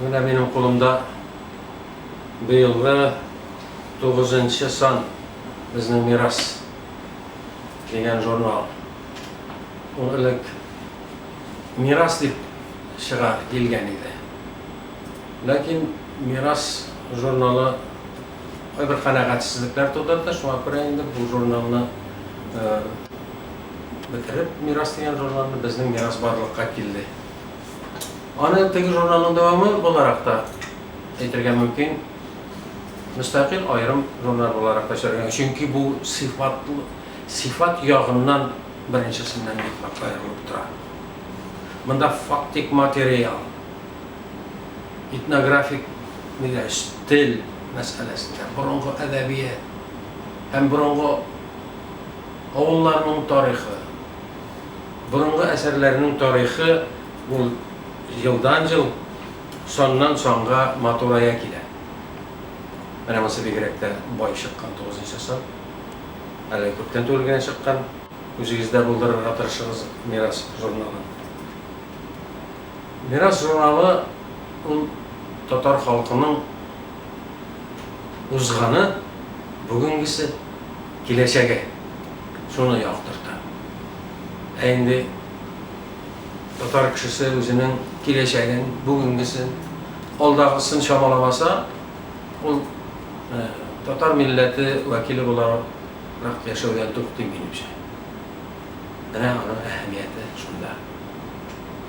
Менә минем кулымда быелгы тугызынчы сан Безнең мирас дигән журнал. Ул элек Мирас дип чыга килгән иде. Ләкин Мирас журналы кайбер канәгатьсезлекләр тудырды, шуңа күрә инде бу журналны бетереп, Мирас дигән журналны, Безнең мирас барлыкка килде. Аны теге журналның дәвамы буларак та әйтергә мөмкин, мөстәкыйль аерым журнал буларак та эшләргә мөмкин, чөнки бу сыйфат, сыйфат ягыннан беренчесеннән бик нык аерылып тора. Монда фактик материал, этнографик дигәч, тел мәсьәләсендә, борынгы әдәбият һәм борынгы авылларның тарихы, Борынгы әсәрләрнең тарихы ул елдан-ел, саннан-санга матурая килә. Менә монсы бигрәк тә бай чыккан, тугызынчы сан. Әле күптән түгел генә чыккан. Үзегездә булдырырга тырышыгыз Мирас журналын. Мирас журналы ул татар халкының узганы, бүгенгесе. Киләчәге шуны яктырта. Ә инде татар кешесе үзенең киләчәген, бүгенгесен, алдагысын чамаламаса, ул татар милләте вәкиле буларак яшәүдән туктый, минемчә. Менә аның әһәмияте шунда.